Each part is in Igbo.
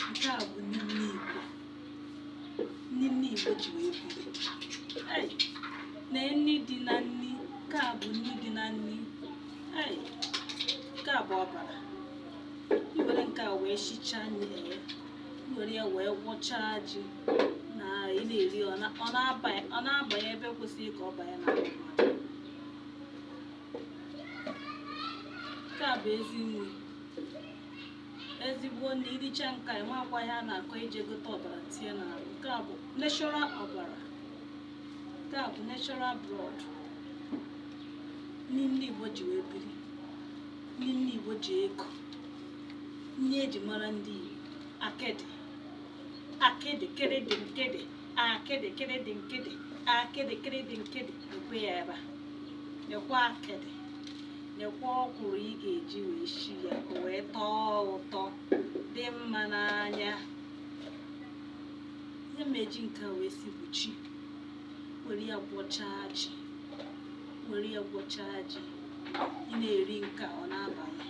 nke a bụ nri ndị Igbo nri ndị Igbo ji wee biri Ei, na nri dị na nri nke a bụ nri dị na nri Ei, nke a bụ ọbara i were nke a wee shichaa nri ya i were ya wee gwọchaa ji na ị na-eri ọ na- ọ na-abanye ọ na-abanye ebe kwesịrị ka ọ banye na ahụ mmadụ nke a bụ ezi nri ezigbo nri iricha nke a enwekwa ihe a na-akọ ije gote ọbara tinye n'ahụ nke a bụ natural ọbara nke a bụ natural blood nri ndị Igbo ji wee biri nri ndị Igbo ji eko nri eji mara ndị Igbo akịdị akịdị kịrịdị nkịdị akịdị kịrịdị nkịdị akịdị kịrịdị nkịdị nekwe ya ebe a nekwa akịdị nekwa ọkwụrụ ị ga-eji wee shi ya ka o wee tọọ ụtọ dị mma n'anya ihe m ji nke a wee si bụ ji were ya gwọchaa ji were ya gwọchaa ji ị na-eri nke a ọ na-abanye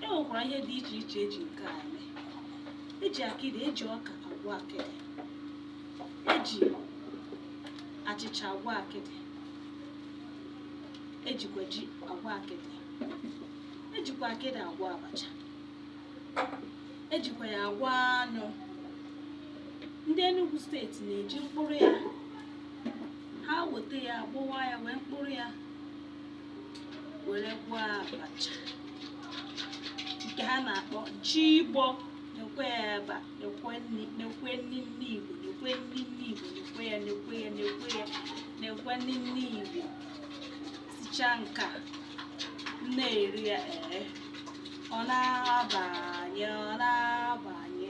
e nwekwara ihe dị iche iche eji nke a eme eji akịdị eji ọka agwọ akịdị eji achịcha agwọ akịdị ejikwa ji agwọ akịdị ejikwa akịdị agwọ abacha ejikwa ya agwọ anụ ndị Enugu steeti na-eji mkpụrụ ya ha weta ya agbụwa ya wee mkpụrụ ya were gwọọ abacha nke ha na-akpọ jigbọ nekwe ya ebe a nekwe nri nekwe nri ndị Igbo nekwe nri ndị Igbo nekwe ya nekwe ya nekwe ya nekwe nri ndị Igbo sichaa nke a na-eri ya ee ọ na-abanye ọ na-abanye